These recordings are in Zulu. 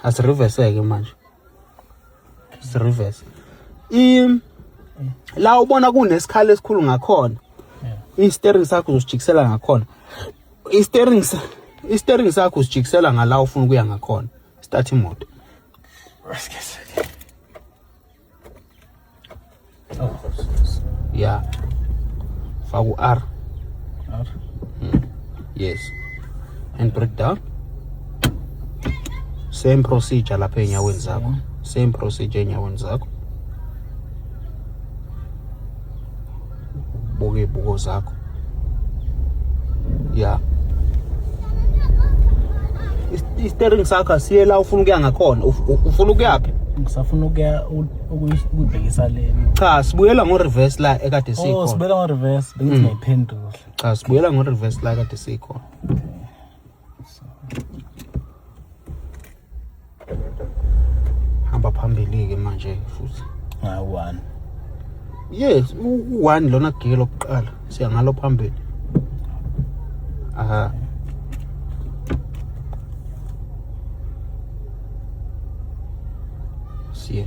asiriveseke manje sirivese i la ubona kunesikhala esikhulu ngakhona i-steering sakho uzosijikisela ngakhona i-steering i-steering sakho usijikisela ngala ufuna ukuya ngakhona start imoto Oh, yeah. Faku R. R. Mm. Yes. And break down. Same procedure lapha enyaweni zakho. Same procedure enyaweni zakho. buka iy'buko zakho ya istering sakho asiye la ufuna ukuya ngakhona ufuna ukuyaphi ngisafuna ukuya ukuyibhekisa le cha sibuyela ngo-reverse la ekade oh, sikhona sibuyela ngo-reverse bengithi mm. ngayiphendula cha sibuyela ngo-reverse la ekade sikhona hamba phambili-ke manje futhi ngayi-one yes u-one lona giye lokuqala siya ngalo phambili aha siya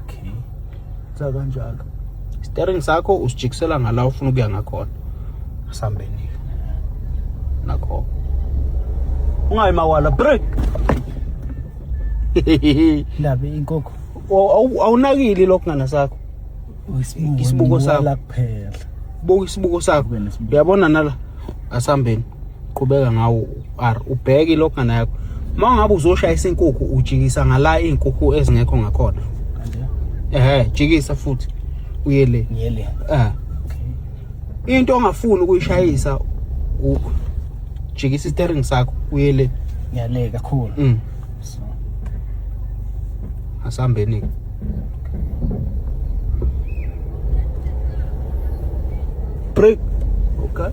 okay za kanjalo steering sakho usijikisela ngala ufuna ukuya ngakhona asambeni nakho ungayi mawala break ndabe inkoko awunakile lokho ngana sakho isibuko sakho kuphela buka isibuko sakho uyabona nala asambeni qhubeka ngawo r ubheke ilogana yakho uma ngabe uzoshayisa inkukhu ujikisa ngala iy'nkukhu ezingekho ngakhona ehe jikisa futhi uye le eh into ongafuni ukuyishayisa jikisa istering sakho uye le ngiyale kakhulu mm. so asambeni ke break okay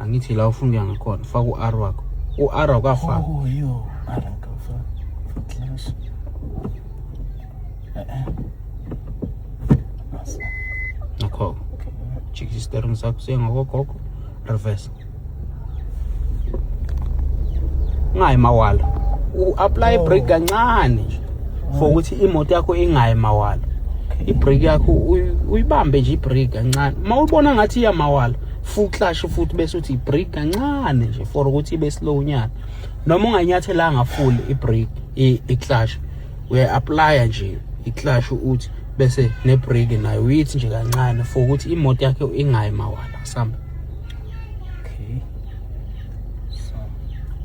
angithi la ufuna ukuya ngakhona faka u-r wakho u-r wakafaka oh, yo r wakafaka class nakho jikisa isitering sakho sengakogogo reverse ungayi mawala u-apply oh. break kancane nje for ukuthi imoto yakho ingayi mawala ibreak yakho uyibambe nje ibreak kancane uma ubona ngathi iyamawala full clutch futhi bese uthi break kancane nje for ukuthi ibe slow nyana noma unganyathelanga full ibreak i-clutch uya apply nje i-clutch uthi bese ne-break nayo uyithi nje kancane for ukuthi imoto yakhe ingayi mawala samba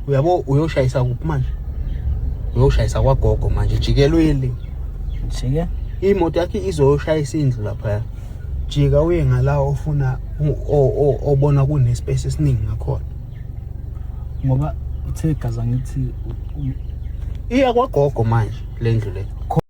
uyabo uyoshayisa kuphi manje uyoshayisa kwagogo manje jikelweli jike imoto yakhe izoyoshayisa indlu laphaya jika uye ngala ofuna obona kunespace esiningi ngakhona ngoba uthe gaza ngithi iya kwagogo manje lendlu le